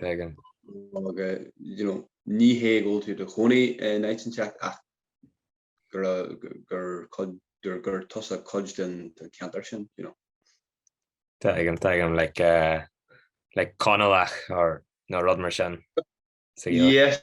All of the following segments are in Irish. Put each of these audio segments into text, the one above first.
Tuigim. Ní hé go bhfuil tú do chónaí in áit inteacht ach gur tusa cuid den ceantar sin. Tuigim, tuigim, like Conallach nó rud mar sin. Yes,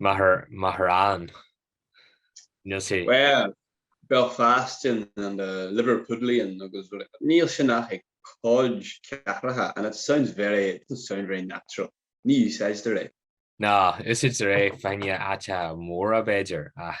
Maharán. Níl sé. Bhuel, Belfastian and a Liverpudlian agus rud eile. Níl sin ach ag cuid cathracha and it sounds very, it doesn't sound very natural. Ní úsáidtear é. Nó, úsáidtear é fá na háiteacha móra b'fhéidir ach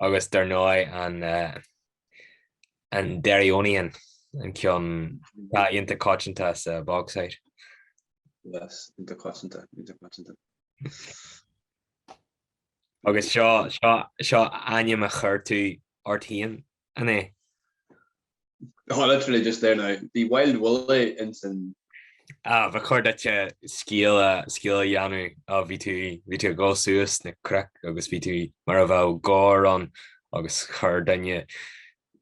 agus dar ndóigh an Derryonian, an ceann atá iontach coitianta sa Bogside. Yes, iontach coitianta, iontach coitianta. Agus seo ainm a chuir tú ort féin an é? Há, literally just there now, bhí Wild Willie ins an. A, ba chóir duit scéal a dhéanamh, á, bhí tú, bhí tú ag dul suas sna cnoic agus bhí tú mar a bheadh gabhar ann agus chuir duine,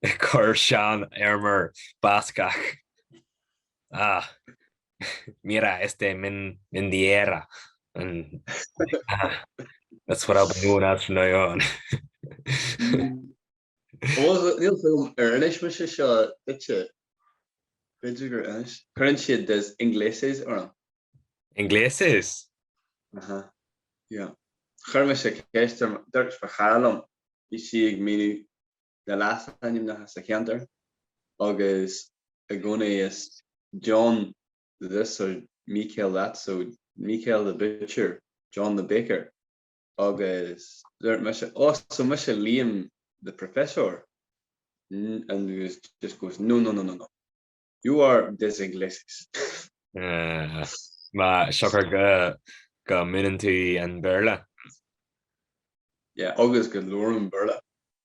chuir seanfheirmeoir Bascach, a, mira este mendiera, an, a, that's what I'll be known as from now on. Níl a fhios agam ar inis mise seo duitse. B'fhéidir gur inis. Cuireann siad des Ingleses orm. Ingleses? Aha. Yeah. Chuir mise ceist ar dúirt mo chara liom, bhí sí ag míniú na leasainmneacha sa cheantar agus i gcónaí is John this or Michael that so Michael the butcher, John the baker. Agus dúirt mise, Ó, so mise Liam the professor? And he just goes, No, no, no, no, no. You are des ingleses. Mar siocair go múineann tú an Béarla. Yeah, agus go labhraim Béarla.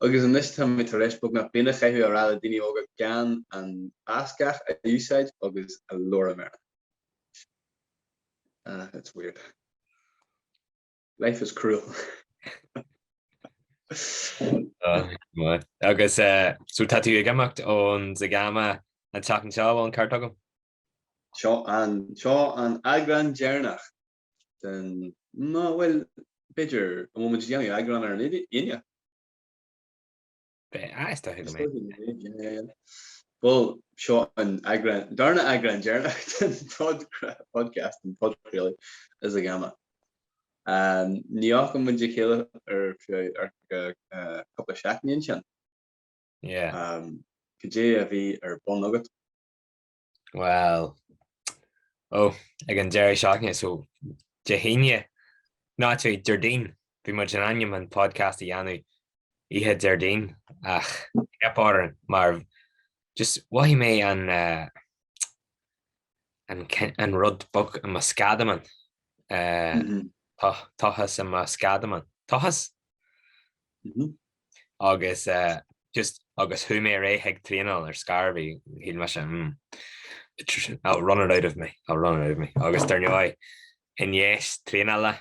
Agus anois tá mé tar éis beagnach bliain a chaitheamh ag rá le daoine óga gan an Euskara a úsáid agus a labhairt ar an. Ah, it's weird. Life is cruel. Agus so tá tú ag imeacht ón Zegama an tseachtain seo, bhfuil an ceart agam? Seo an eagrán deireanach den. Ná bhuel, b'fhéidir, an bhfuil muid ag déanamh eagrán ar an Fhine? Beidh, ah, is dóiche go mbeidh. Bhuel, seo an eagrán, darna eagrán deireanach den podcast, an podchraoladh, is ag ama. Ní fhaca muid a chéile ar feadh ar feadh cúpla seachtainí ansin. Yeah. Cad é a bhí ar bun agat? Bhuel, ó, ag an deireadh seachtaine, so Dé hAoine, nó actually Déardaoin, bhí muid in ainm an podcast a dhéanamh oíche Déardaoin ach theip orainn mar just mhothaigh mé an uh, an, an rud beag i mo sceadamán. Uh, mm -hmm. Tochas i mo sceadamán. Tochas? Mm -hmm. agus just agus chuaigh mé ar aghaidh chuig traenáil ar scor ar bith, shíl mé sin mm I'll run it out of me, I'll run it out of me. Agus dar ndóigh, i ndiaidh traenála,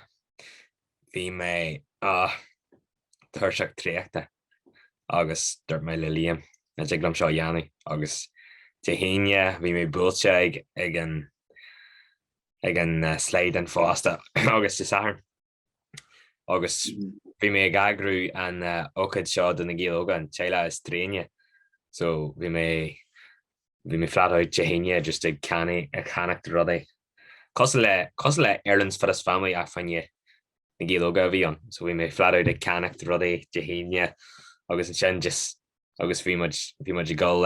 bhí mé ah tuirseach traochta agus dúirt mé le Liam, Cha dtig liom seo a dhéanamh. Agus Dé hAoine, bhí mé buailte ag an slaghdán fosta agus Dé Sathairn, agus bhí mé ag eagrú an ócaid seo do na Gaeil Óga, an teaghlach is tréine, so bhí mé bhí mé flat out Dé hAoine just ag ceannaigh ag ceannacht rudaí. Cosúil le cosúil le Ireland's Fittest Family ach fá choinne na Gaeil Óga a bhí ann, so bhí mé flat out ag ceannacht rudaí Dé hAoine agus ansin just agus bhí muid bhí muid ag dul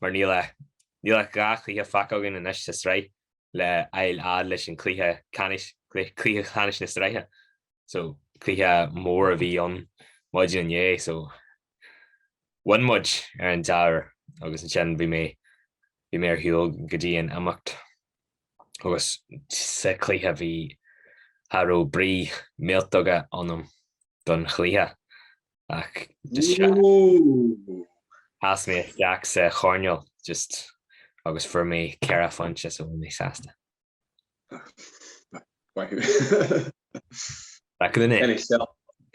mar níl ach dhá chluiche fágtha againn anois sa tsraith le fháil fhad leis an chluiche ceannais, cluiche ceannais na sraithe. So cluiche mór a bhí ann maidin inné so bhain muid ar an dea-uair agus ansin bhí mé bhí mé ar shiúl go dtí an imeacht agus sa chluiche bhí cha raibh brí millteanach ionam don chluiche ach sheas mé isteach sa choirneál agus fuair mé ceithre phointe so bhí mé sásta.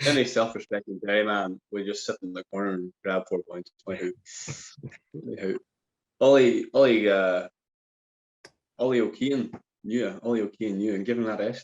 Any self-respecting GAA man would just sit in the corner and grab four points. Ollie O'Keane knew and given that out.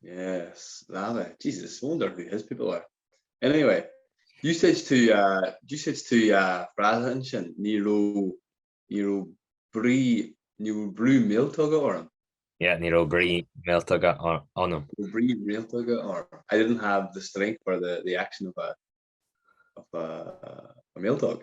Yes, love it. Jesus, I wonder who his people are. Anyway, you said to, uh, you said to uh, frása ansin, ní raibh, ní raibh brí, ní raibh brú míltóga orm. Yeah, ní raibh brí míltóga orm. Brí míltóga orm. I didn't have the strength or the, the action of a, of a, a míltóg.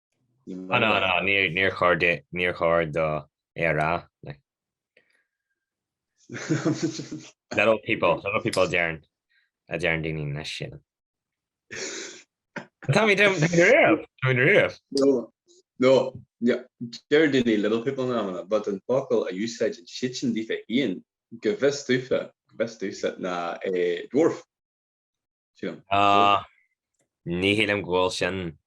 Níor chóir dó é a rá. Little people, little people dearn a dearn daoine na sin. Tá mé dom riamh, tá mé riamh. No, deir daoine little people in amanna, but an focal a úsáideann siadsan daofa féin, go bhfios domhsa, go bhfios domhsa, ná é dwarf. Sílim. Ní shílim go bhfuil sin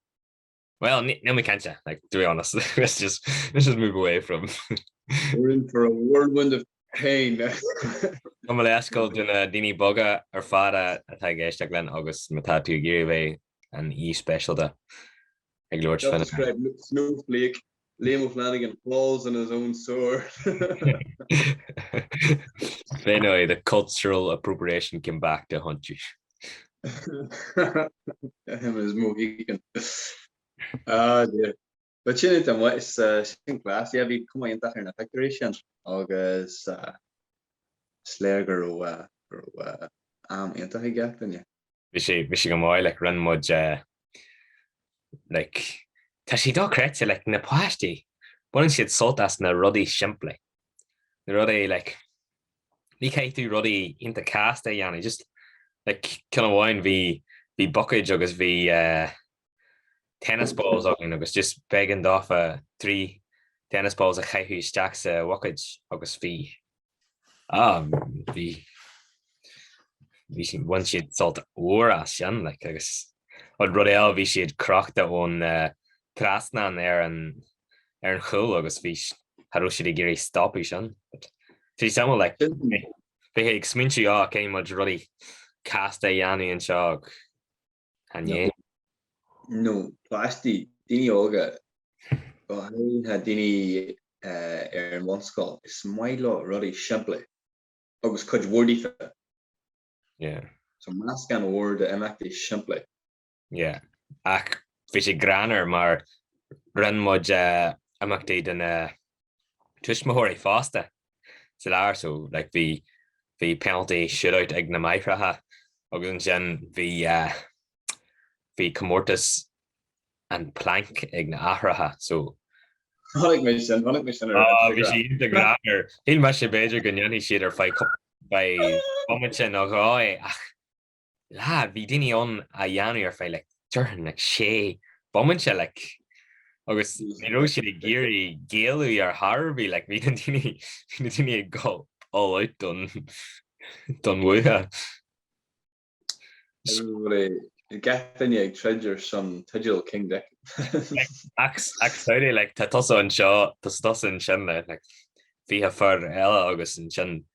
Bhuel, níl mé cinnte, like, to be honest, let's just, let's just move away from. We're in for a whirlwind of pain. Gabh mo leithscéal do na daoine beaga ar fad atá ag éisteacht linn agus má tá tú ag iarraidh a bheith an aoi speisialta ag labhairt féin. Snúthlaíoch. Liam O'Flanagan falls on his own sword. Sin é the cultural appropriation came back to haunt you. Him and his Mohican. Ah dear. But sin iontach maith is sin class. Yeah bhí cuma iontach ar na pictiúirí sin agus is léir go raibh go raibh am iontach ag gach duine. bhí sé bhí sé go maith like rinne muid eh like tá sé dochreidte like na páistí baineann siad sult as na rudaí simplí na rudaí like ní chaithfidh tú rudaí iontach casta a dhéanamh just like ceann amháin bhí bhí bucáid agus bhí eh tennis balls againn agus just b'éigean daofa trí tennis balls a chaitheamh isteach sa bhucáid agus bhí, ah, bhí, bhí siad, bhain siad sult mhór as sin, like, agus an rud eile bhí siad crochta ón eh, trasnán ar an, ar an chúl agus bhí, s- cha raibh siad ag iarraidh stopadh sin. But, tá sé suimiúil, like, bhí sé ag smaointiú, oh, caithfidh muid rudaí casta a dhéanamh anseo ag An é? Nó páistí, daoine óga, go háirithe daoine ar an bhunscoil, is maith leo rudaí simplí agus cuid mhór díofa. Yeah. So meascán mhór d'imeachtaí simplí. Yeah. Ach bhí sé greannmhar mar rinne muid imeachtaí do na tuismitheoirí fosta sa lár so like bhí bhí penalty shoot out ag na máithreacha agus ansin bhí eh bhí comórtas an plank ag na haithreacha so Chonaic mé sin, chonaic mé sin ar ah Instagram. Bhí sé iontach láidir. Shíl mise b'fhéidir go ndéanfadh siad ar feadh cúpla b'fhéidir bomaite nó dhó é ach Lá, bhí daoine ann á dhéanamh ar feadh like déarfainn like sé bomaite like agus ní raibh siad ag iarraidh géilleadh ar chor ar bith like bhí na daoine bhí na daoine ag dul all out don don bhua. Bhí achan duine ag troid ar son teideal King Dick. Ach ach samhlaigh like tá tusa anseo tusa tusa ansin le like fiche fear eile agus ansin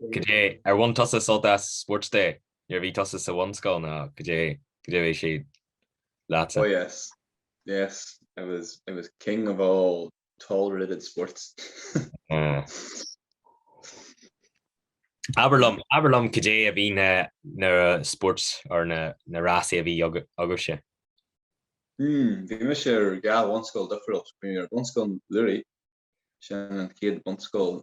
Goidé ar bhain tusa sult as Sports Day? Nuair a bhí tusa sa bhunscoil nó goidé goidé a bhí sé leatsa? Oh yes, yes, I was I was king of all tolerated sports. Abair liom, abair liom goidé a bhí na na spóirt or na na rásaí a bhí agaibhse? Hmm, bhí mise ar dhá bhunscoil difriúil. Bhí mé ar Bhunscoil Luraigh, sin an chéad bhunscoil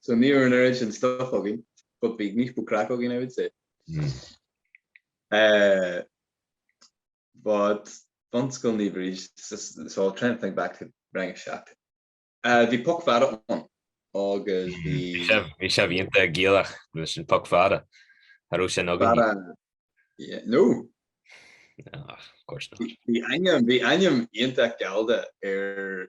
so ní raibh an oiread sin stuff againn, but bhí níos mó craic againn, I would say. Mm. Uh, but Bunscoil Naomh Bríd, so I'll try and think back to rang a seacht. Uh, bhí poc fada ann, agus bhí... Bhí sé iontach Gaelach, bhí sin poc fada. Cha raibh sin againn. Fada... Yeah, no, Ah, of course not. Bhí ainm, bhí ainm iontach gallda ar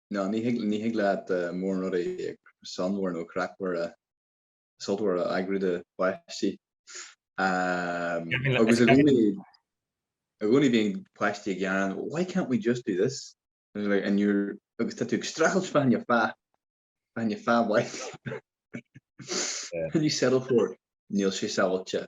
Nó ní thig leat mórán rudaí suanmhara nó craicmhara sultmhara a eagrú do pháistí. Agus i gcónaí bíonn páistí ag gearán, why can't we just do this? agus tá tú ag streachailt fan ar fá fan ar fá bhaith. Can you settle for it? Níl sé sábháilte.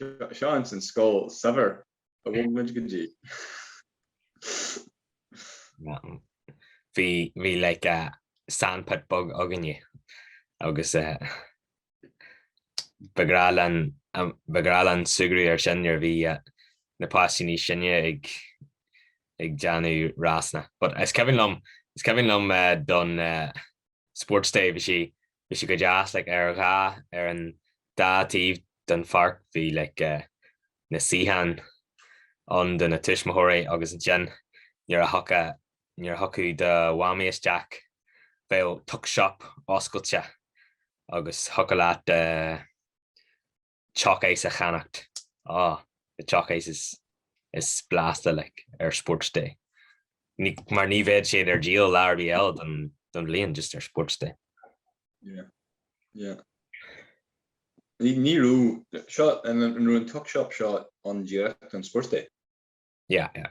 Seo ansin scoil saibhir a bhfuil muid go dtí. Bhí bhí like sandpit beag againne agus ba ghnáth liom ba ghnáth liom súgradh air sin nuair a bhí na páistí níos sine ag ag déanamh rásanna. But is cuimhin liom is cuimhin liom don Sports day, bhí sé, bhí sé go deas like ar dhá, ar an dá taobh den pháirc bhí like eh, na suíocháin ann do na tuismitheoirí agus ansin nuair a thiocfá, nuair a thiocfadh do mhamaí isteach bheadh tuck shop oscailte agus thiocfadh leat eh, teach a's a cheannacht. Ah, the teach a's is blasta like ar Sports Day. Mar ní bheadh siad ar díol lá ar bith eile don bhliain just ar Sports Day. Yeah, yeah. Ní raibh, seo, an raibh an tuck shop seo ann díreach don Sports Day? Yeah, yeah.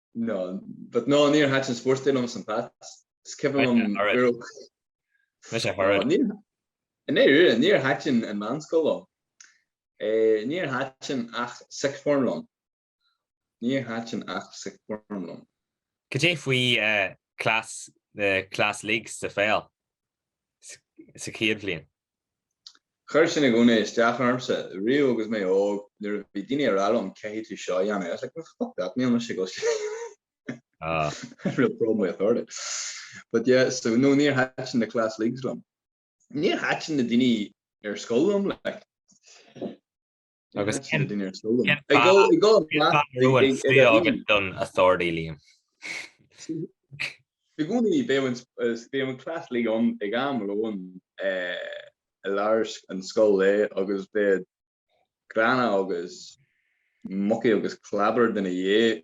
No, but no, níor thaitin spórt liom i St Pat's. Is cuimhin liom gur ó Mise a thoradh. Níor, i nDoire, níor thaitin an mheánscoil liom. Eh, níor thaitin ach sixth form liom. Níor thaitin ach sixth form liom. Cad é faoi class, na class leagues sa pheil sa chéad bhliain? Chuir sin i gcónaí isteach ormsa riamh agus mé óg, nuair a bhí daoine ag rá liom 'caithfidh tú seo a dhéanamh', I was like, 'Well, fuck that, níl mise ag éisteacht', had real problem with authority. But yeah, so no, níor thaitin na class leagues liom. Níor thaitin na daoine ar scoil liom, like. Agus cén fáth don authority, Liam? I gcónaí, bhí an class league ann ag am lóin i lár an scoil-lae agus bhí gránna agus mucky agus clábar de na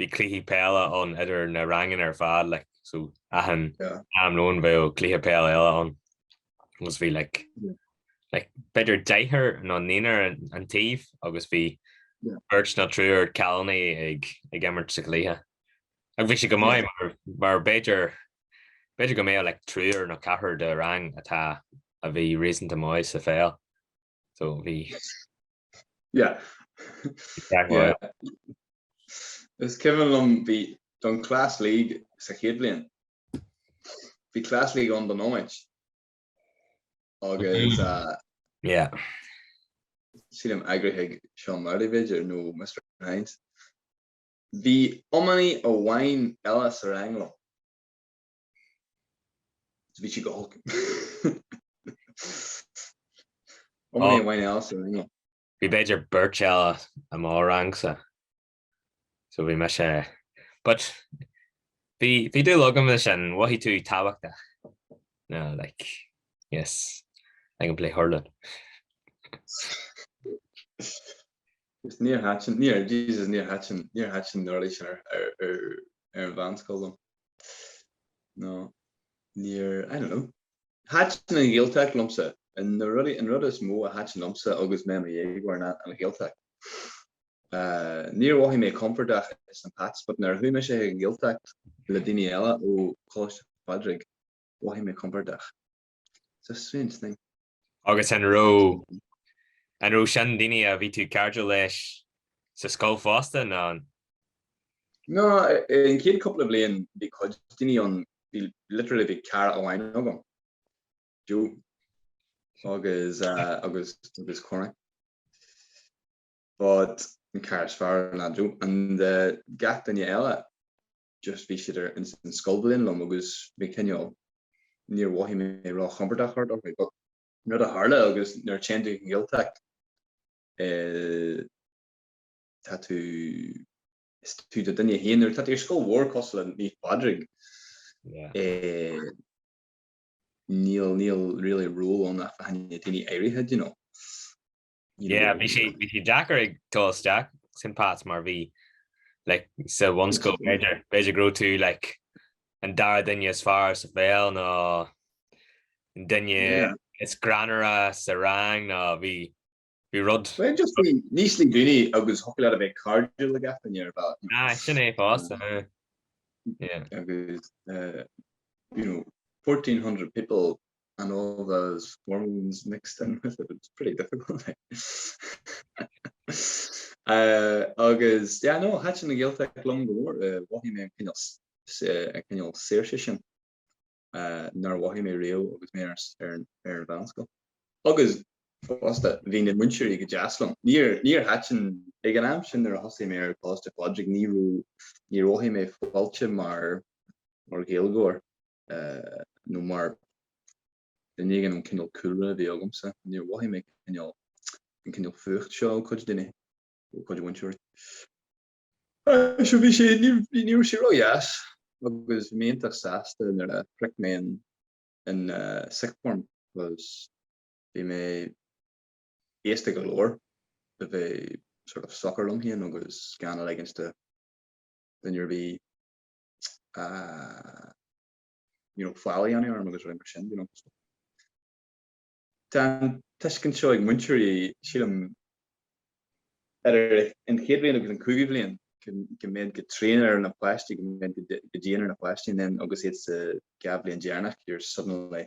Bhí cluichí peile ann idir na ranganna ar fad, like, so achan am lóin bheadh cluiche peile eile ann agus bhí like, like, b'fhéidir deichniúr nó naonúr an taobh agus bhí beirt nó triúr cailíní ag, ag imirt sa chluiche. Ach bhí sé go maith mar, mar b'fhéidir, b'fhéidir go mbeadh like triúr nó ceathrar de rang atá, a bhí réasúnta maith sa pheil. so bhí yeah yeah is cuimhin liom bhí don class league sa chéad bhliain bhí class league ann don iomáint agus yeah sílim eagraigh Seán Marty b'fhéidir nó Mr Hynes bhí iománaí amháin eile sa rang liom Bhí sí go holc. Iománaí amháin eile sa rang. Bhí b'fhéidir beirt eile i mo rangsa. So bhí mise, but bhí bhí dúil agam leis sin, mhothaigh tú tábhachtach. No, like, yes, I can play hurling. Is níor thaitin, níor, Jesus, níor thaitin, níor thaitin na rudaí sin ar ar ar ar an mheánscoil liom. nó níor, I don't know. Thaitin an Ghaeltacht liomsa. An rud is mó a thaitin liomsa agus mé i mo dhéagóir ná an Ghaeltacht. Níor mhothaigh mé compordach i St Pat's but nuair a chuaigh mise chuig an Ghaeltacht le daoine eile ó Choláiste Phádraig, mhothaigh mé compordach. It's a strange thing. Agus an raibh, an raibh sin daoine a bhí tú ag cairdiúil leis sa scoil fosta, ná an? Ná, an chéad cúpla bliain bhí cuid daoine ann, bhí, literally bhí cara amháin agam, Joe agus, agus, agus Cormac. But, an cara is fearr ná Joe and, gach duine eile, just bhí siad ar an scoilbhliain liom agus bhí cineál, níor mhothaigh mé róchompordach thart orthu but an rud a tharla agus nuair a téann tú chuig an Ghaeltacht eh tá tú is tú do duine féin nuair tá tú ar scoil mhór cosúil le Naomh Pádraig Yeah. eh níl níl really ról ann ach faoi choinne daoine áirithe you know Yeah, bhí sé bhí sé deacair ag dul isteach san áit sin mar bhí like sa bhunscoil b'fhéidir b'fhéidir go raibh tú like an dara duine is fearr sa pheil nó an duine Yeah. is greannmhaire sa rang nó bhí bhí rud Well, just bhí níos lú daoine agus thocail ar a bheith cairdiúil ag aithne ar bhealach. ná Ah, sin é fosta. huh. Yeah. agus uh, you know 1400 people and all those hormones mixed in with it, it was pretty difficult agus yeah no thaitin an Ghaeltacht liom go mór, mhothaigh mé an cineál an cineál saoirse sin nár mhothaigh mé riamh agus mé ar ar an mheánscoil agus fosta bhí na múinteoirí go deas liom, níor níor thaitin ag an am sin nuair a thosaigh mé ar Coláiste Phádraig ní raibh níor mhothaigh mé fáilte mar mar Ghaeilgeoir nó mar dhuine éigin an cineál cúlra a bhí agamsa, níor mhothaigh mé an cineál fuacht seo ó chuid daoine, ó chuid múinteoirí. Seo bhí sé, ní raibh sé ródheas agus bhí mé iontach sásta nuair a shroich mé an sixth form because bhí mé aosta go leor le bheith sort of socair liom féin agus gan a leigint de nuair a bhí you know, faillí ann orm agus rudaí mar sin, you know. Tá an tuiscint seo ag múinteoirí, sílim, idir an chéad bhliain agus an cúigiú bhliain go mbeidh go tréan ar na páistí go mbeidh go dian ar na páistí and then agus iad sa dhá bhliain deireanach you're suddenly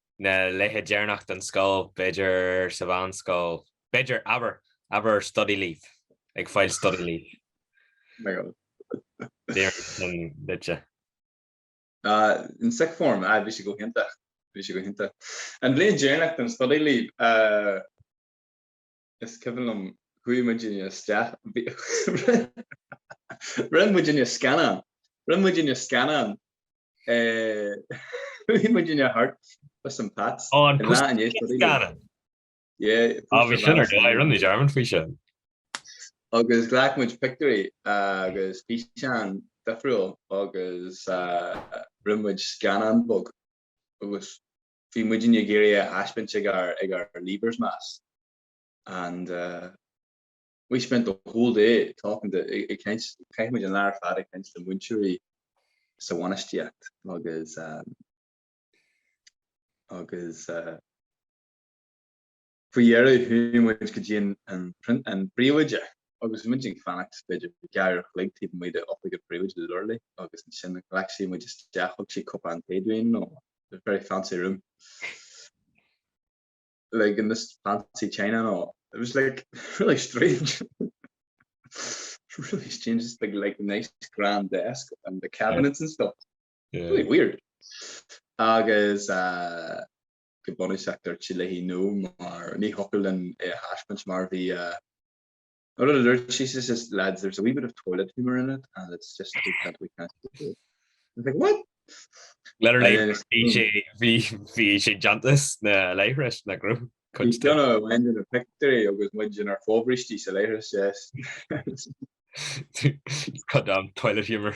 na laethe deireanach den scoil, b'fhéidir sa mheánscoil, b'fhéidir, abair, abair study leave, ag fáil study leave. Déarfainn sin duitse. In sixth form, aye, bhí sé go hiontach, bhí sé go hiontach. An bhliain dheireanach den study leave. is cuimhin liom chuaigh muidinne isteach rinne muidinne scannán rinne muidinne scannán chuaigh muidinne thart bus an Pats an lá inné is cuimhin liom yeah bhí sin ar dóigh rinne muid airmid faoi sin agus ghlac muid pictiúirí agus físeán difriúil agus rinne muid scannán beag agus bhí muidinne ag iarraidh é a thaispeáint ag ár Leavers' Mass, and we spent the whole day talking to, ag caint, chaith muid an lá ar fad ag caint le múinteoirí sa bhainistíocht agus agus. Faoi dheireadh, chuaigh muid go dtí an príomhoide agus bhí muid ag fanacht b'fhéidir ceithre huair an chloig taobh amuigh d'oifig an phríomhoide literally agus ansin ghlac sí muid isteach, thug sí cupán tae dúinn, nó it was very fancy room, like in this fancy china nó it was like really strange, really strange, just like like nice grand desk and the cabinets and stuff, really weird agus. go bunúsach a dúirt sí like nó mar ní thiocfadh linn é a thaispeáint mar bhí a Nó rud a dúirt sí she says lads there's a wee bit of toilet humour in it and it's just we can't we can't do it. I was like what? Literally uh, bhí sé bhí bhí sé déanta sna leithris na grú. He's done a wind in a victory agus muid inár bhfobhrístí sa leithris yes. Cut down toilet humour.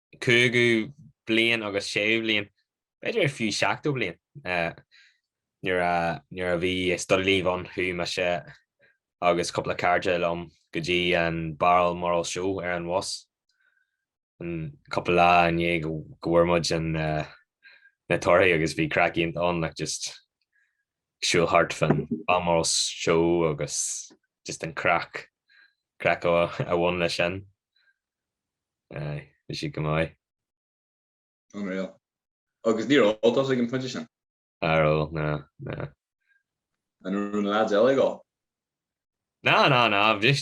5ú bliain agus 6ú bliain, b'fhéidir fiú 7ú bliain, nuair a bhí study leave ann chuaigh mise agus cúpla cairde liom go dtí an Balmoral Show ar an bhus, an cúpla lá i ndiaidh go bhfuair muid na torthaí agus bhí craic iontach ann, like just ag siúl thart fán Balmoral Show agus just an craic, craic a bhain leis sin. Aye, bhí siad go maith. Unreal. Agus níor ól tusa ag an pointe sin? Nár ól, ná, ná. An raibh na lads eile ag ól? Ná, ná, ná, bhí,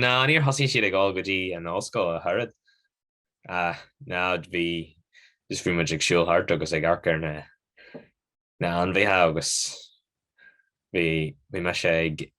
ná, níor thosaigh siad ag ól go dtí an ollscoil, ach an oiread. Ah, ná, bhí, just bhí muid ag siúl thart agus ag amharc ar na, na hainmhithe agus bhí, bhí mise ag,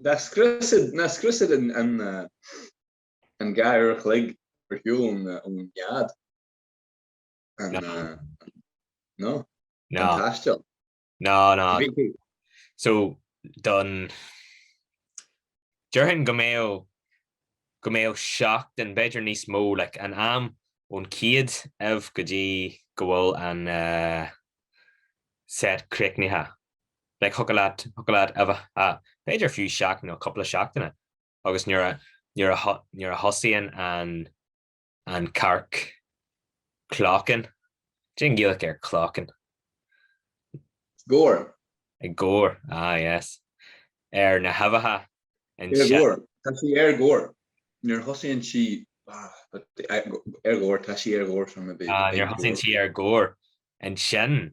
Ná scriosfaidh siad an gur ar a chloig gur shiúil ón nead an taisteal. Ná, ná. So, don, déarfainn go mbeadh, go mbeadh seachtain, b'fhéidir níos mó, like, an am ón chéad ubh go dtí go bhfuil an set críochnaithe. like, thiocfadh leat, thiocfadh leat a bheith b'fhéidir fiú seachtain nó cúpla seachtaine agus nuair a, nuair a, nuair a thosaíonn an, an cearc clocking, cén Ghaeilg ar clocking? Gor. Ag gor, ah yes. Ar na huibheacha. Ar gor, tá sí ar gor. Nuair a thosaíonn sí, ar gor, tá sí ar gor. Nuair a thosaíonn sí ar gor, ansin,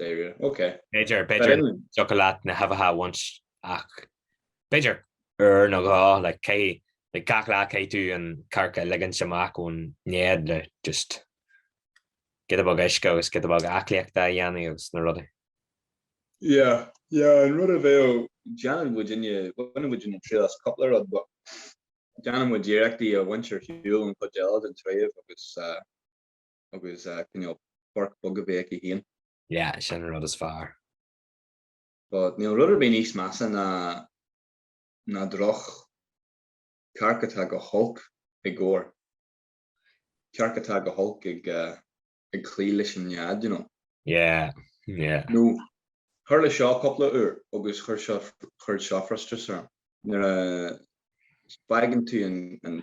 Deireadh, ok. B'fhéidir, b'fhéidir dtiocfadh leat na huibheacha a bhaint ach b'fhéidir uair nó dhó, like, cé, like, gach lá caithfidh tú an cearc a ligint amach ón nead le just giota beag uisce agus giota beag aclaíochta a dhéanamh agus na rudaí. Yeah, yeah, an rud a bheadh, déanann muid inne, bhaineann muid inne triail as cúpla rud but déanann muid iarrachtaí a bhaint ar shiúl an chuid eile den tsraoibh agus, eh, agus cineál páirc bheag a bheith aici féin. Yeah, sin an rud is fearr. But níl rud ar bith níos measa ná ná droch-chearc atá go holc ag gor. Cearc atá go holc ag ag cloí leis an nead, you know. Yeah, yeah. Nó, tharla seo cúpla uair agus chuir seo chuir seo frustrachas orm. Nuair a fhágann tú an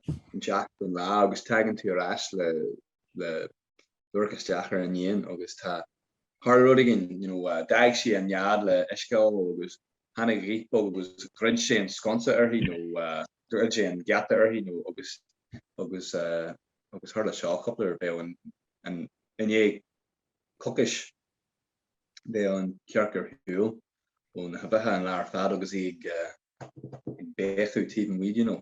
an teacht don lá agus tagann tú ar ais le le dorchas, isteach ar an éan agus tá tharla rud éigin, you know, d'fhág sí an nead le uisce a fháil agus tháinig an ghaoth bheag agus dhruid sé an sconsa uirthi nó dhruid sé an geata uirthi nó agus agus agus tharla seo cúpla uair bheadh an nead, cad chuige bheadh an cearc ar shiúl ó na huibheacha an lá ar fad agus í ag ag béiceadh taobh amuigh, you know.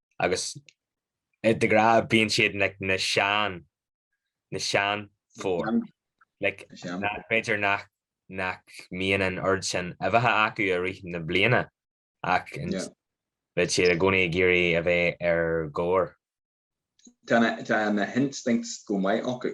agus de ghnáth bíonn siad like, na sean, na seanphóir. Like, b'fhéidir nach, nach mbíonn an oiread sin uibheacha acu i rith na bliana ach yeah. beidh siad i gcónaí ag iarraidh a bheith ar gor. Tá na, tá na instincts go maith acu.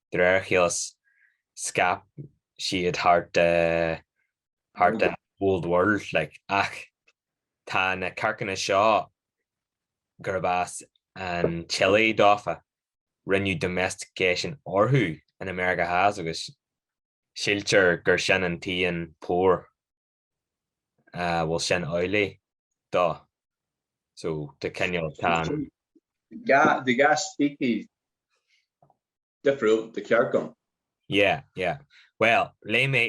De réir a chéile scaip siad thart ar an Old World, ach tá na cearcanna seo, gurb as an tSile dófa, rinneadh domestication orthu in America Theas agus síltear gur sin an t-aon tóir. bhfuil sin amhlaidh? dó so tá cineál, tá an. ga, bhí dhá speicis difriúil de chearca ann. Yeah, yeah. Well, léigh mé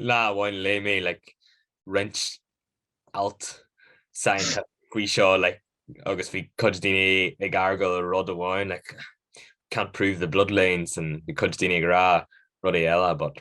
lá amháin léigh mé like roinnt alt science faoi seo like agus bhí cuid daoine ag argáil rud amháin like can't prove the bloodlines and bhí cuid daoine ag rá rudaí eile but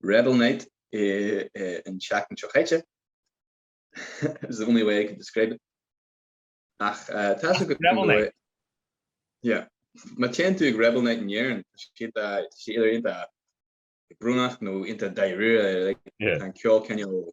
rebel night an tseachtain seo chaite, it is the only way I can describe it, ach tá sé go rebel night? Yeah. Má téann tú ag rebel night in Éirinn, tá sé tá sé idir iontach brónach nó iontach dáiríre, like tá an ceol cineál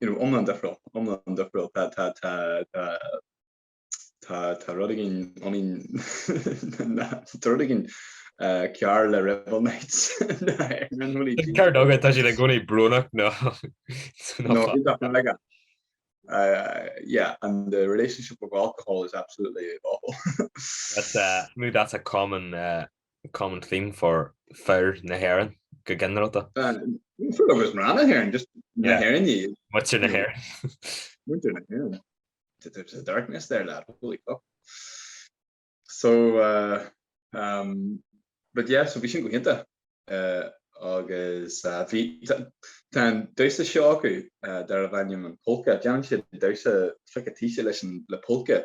you know, iomlán difriúil, iomlán difriúil, tá, tá, tá, tá, tá, tá rud againn I mean, na, tá rud againn uh, cearr le rebel nights. Ar ndóigh, tá siad i gcónaí brónach, no. no, no uh, yeah, and the relationship with alcohol is absolutely awful. that's uh, that's a common uh, Common theme for fir na hÉireann go ginearálta. Ní fir agus mná na hÉireann, just na hÉireannaigh iad. Muintir na hÉireann. Muintir na hÉireann. There's a darkness there, lad, holy fuck. So um but yeah, so bhí sin go hiontach agus bhí, tá an damhsa seo acu darbh ainm an Polka, déanann siad damhsa fucking taoisc leis an, le polka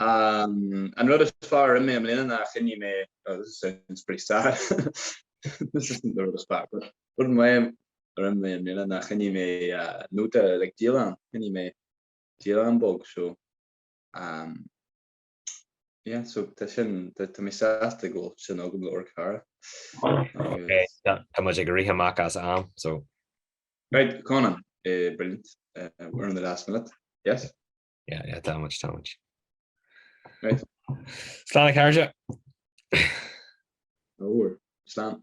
An rud is fearr i mbliana ná choinnigh mé, oh this sounds pretty sad, this isn't the rud is fearr, but rud is maith liom i mbliana ná choinnigh mé nóta like dialann, choinnigh mé dialann beag so um yeah so tá sin, tá mé sásta go bhfuil sin agam le amharc air. Tá muid ag rith amach as am so. Right, Conan, brilliant, we're in the last minute, yes? Yeah, yeah, too much, too much. Right. Slán a chairde. Yeah, slán.